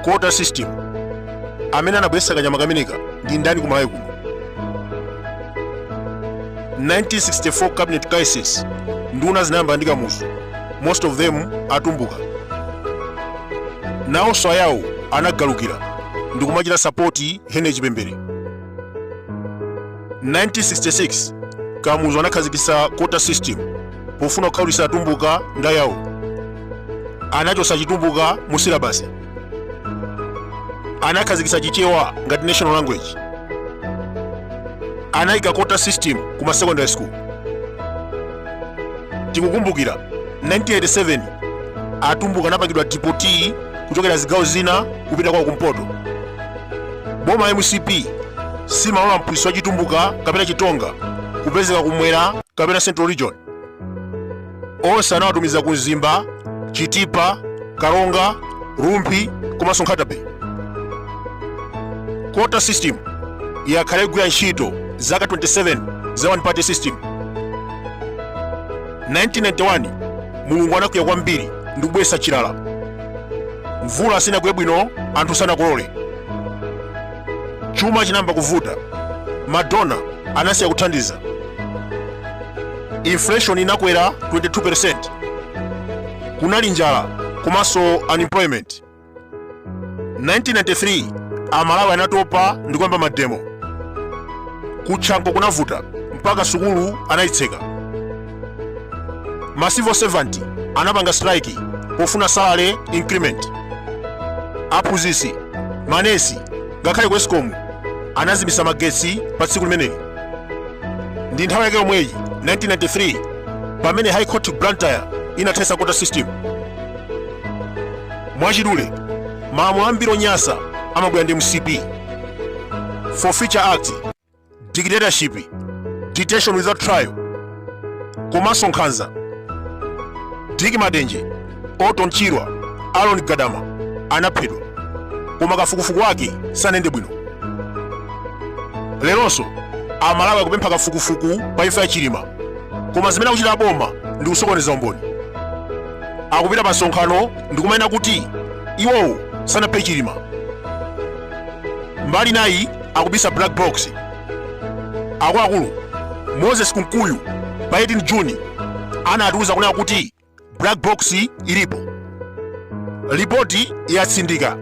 quota system amene anabweretsa kanyama kameneka ndi ndani kumalawi kuno 1964 cabinet crisis nduna zinayambana ndi kamuzu most of them atumbuka nawonso ayawo anagalukira ndikumachita sapoti henry chipembere 1966 kamuzu anakhazikitsa quota system pofuna kukhaulitsa atumbuka ndi ayawo anachotsa chitumbuka mu silabasi anakhazikitsa chichewa ngati national language anayika quota system ku ma secondary school tikukumbukira 1987 atumbuka anapangidwa deport kuchokera zigawo zina kupita kwawo kumpoto boma la mcp simalola mphunzitsi wa chitumbuka kapena chitonga kupezeka kumwera kapena central region onse anawatumiza ku mzimba chitipa karonga rumphi komanso nkhatabay quota system yakhala ikugwira ntchito zaka 27 za one party system 1991 mulungu anakwiya kwambiri ndi kubweretsa chilala mvula sinagwe bwino anthu sanakolole chuma chinayamba kuvuta ma donor anasiya kuthandiza inflation inakwera 22% kunali njala komanso unemployment 1993 amalawi anatopa ndi kuyamba mademo kutchanko kunavuta mpaka sukulu anayitseka ma civil servant anapanga strike pofuna salary increment aphunzitsi manesi ngakhale ku escom anazimisa magetsi pa tsiku limeneli ndi nthawi yake yomweyi 1993 pamene high court blantyre inathetsa quota system mwachidule malamulo ambiri onyasa amabwera ndi mcp forfeiture act dictatorship detention without trial komanso nkhanza dick matenje orton chirwa aaron gadama anaphedwa koma kafukufuku wake sanende bwino leronso amalawi akupempha kafukufuku pa imfa ya chilima koma zimene akuchita boma ndi kusokoneza umboni akupita pa msonkhano ndi kumanena kuti iwowo sanaphe chilima mbali inayi akubisa black box akuluakulu moses kunkuyu pa 18 juni anatiuza kunena kuti black box ilipo lipoti yatsindika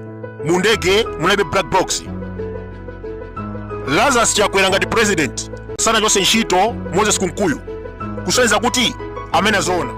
mu ndege munalibe black box lazarus chakwera ngati president sanachose ntchito moses kunkuyu kusonyeza kuti amanena zoona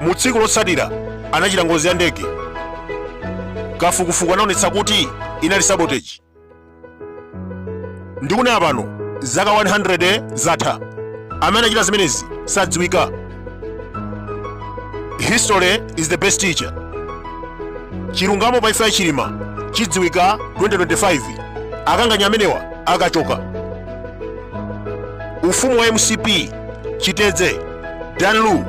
mu tsiku lotsatira anachita ngozi ya ndege kafukufuku anaonetsa kuti inali sabotage ndikunena pano zaka 100 zatha amene anachita zimenezi sadziwika history is the best teacher chilungamo pa imfa ya chilima chidziwika 2025 akanganya amenewa akachoka ufumu wa mcp chitedze dan lu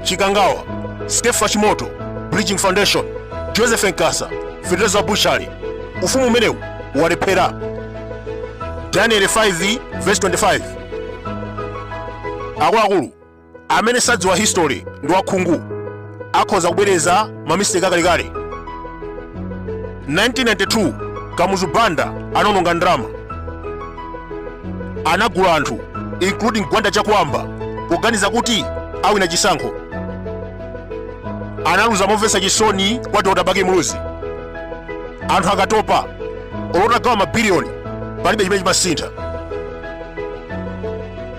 chikangawa skefa chimoto bridging foundation joseph nkasa fedeza bushali ufumu umenewu walephera daniel 5 verse 25 akuluakulu amene sadziwa history ndi wakhungu akhoza kubwereza mamisiteki akalekale 1992 kamuzu banda anaononga ndalama anagula anthu including gwanda chakwamba poganiza kuti awina chisankho analuza momvetsa chisoni kwa dr bakili muluzi anthu akatopa olo utagawa mabiliyoni palibe chimene chimasintha